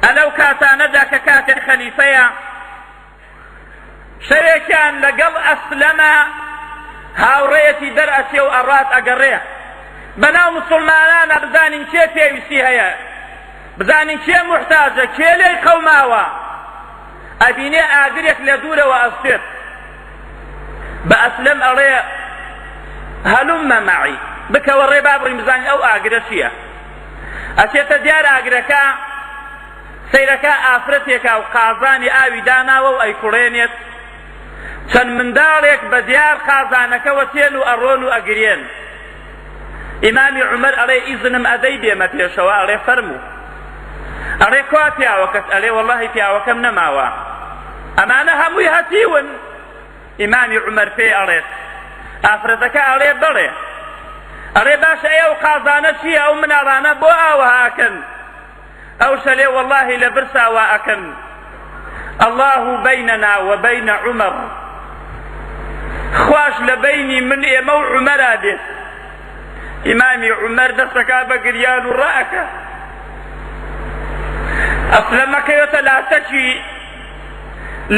ە لەو کاتانەدا کە کاتێ خەلیفەیە شەوێکیان لەگەڵ ئەسلەمە هاوڕێیەتی دەرئەچێ و ئەڕات ئەگەڕێ بەناو مسلمانانە بزانین کێ پێویستی هەیە بزانین کێ محتاجە کێ لێی قەوماوە ئەبینێ ئاگرێک لە دوورەوە ئەستێت بە ئەسلم ئەڵێ هەلومە مەعی بکەوە ڕێ بابڕین بزانین ئەو ئاگرە چییە ئەچێتە دیار ئاگرەکە سەیرەکە ئافرەتێکە و قازانی ئاوی داناوە و ئەیکوڵێنێت چەند منداڵێک بە دیار قازانەکەوە تێن و ئەڕۆن و ئەگرێن ئیمامی عمر ئەڵێ ئیزنم ئەدەی بێمە پێشەوە ئەڵێ فەرموو ئەڵێ کوا پیاوەکەت ئەلێ وەڵی پیاوەکەم نەماوە ئەمانە هەمووی هەتیون ئیمامی عومەر پێی ئەڵێت، ئافرەتەکە ئەڵێ، بەڵێ. ئەڵێ، باشە ئەی ئەو قازانە چییە، ئەو مناڵانە بۆ ئاوەها ئەکەن؟ ئەوش ئەلێ، وەڵاهی لە برسا وا ئەکەن. اللە بیننا و بین عومەر، خواش لە بەینی من، ئێمە و عومەرا بێت. ئیمامی عومەر دەستەکا بە گریان و ڕائەکا. ئەسلەم ئەکەوێتە لاتەکی.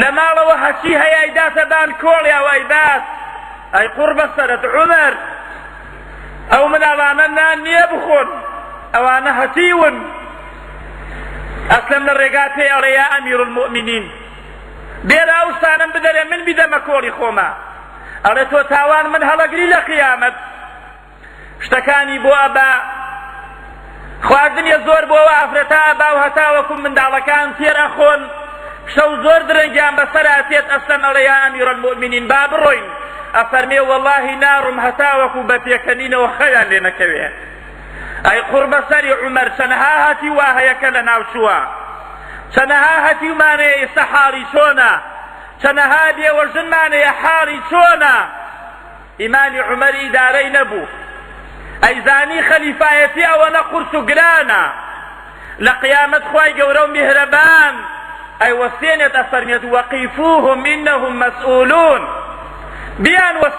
لە ماڵەوە هەچی هەیای داتە بان کۆڵ یا وای بات ئەی قوڕ بەسەرت عومەر ئەو مناڵانە نان نییە بخۆن ئەوانە هەتیون ئەسلم لە ڕێگا پێ ئەڵێ یا ئەمیر المؤمنین بێرا ئەو شتانم بدەرێ من بیدەمە کۆڵی خۆمە ئەڵێ تۆ تاوان من هەڵەگری لە قیامەت شتەکانی بۆ ئەبا خواردنی زۆر بۆ ئافرەتا ئەبا و هەتاوەکو منداڵەکان تێر ئەخۆن شەو زۆر درەنگیان بەسەرا تێت ئەسلەم ئەڵێ یا ئەمیرەلموئمینین با بڕۆین ئەفەرمێ وەڵاهی ناڕم هەتاوەکو بە پێکەنینەوە خەویان لێ نەکەوێ ئەی قوڕ بەسەری عومەر چەنەها هەتی وا هەیە کە لە ناوچووە چەنەها هەتیومانەیە ئێستا حاڵی چۆنە چەنەها بێوەژنمانەیە حاڵی چۆنە ئیمامی عومەر ئیدارەی نەبوو ئەیزانی خەلیفایەتی ئەوەنە قورس و گرانە لە قیامەت خوای گەورە و میهرەبان ئەیوەستێنێت ئەفەرمێت وەقیفوهم انهم مسئولون بیان وەستی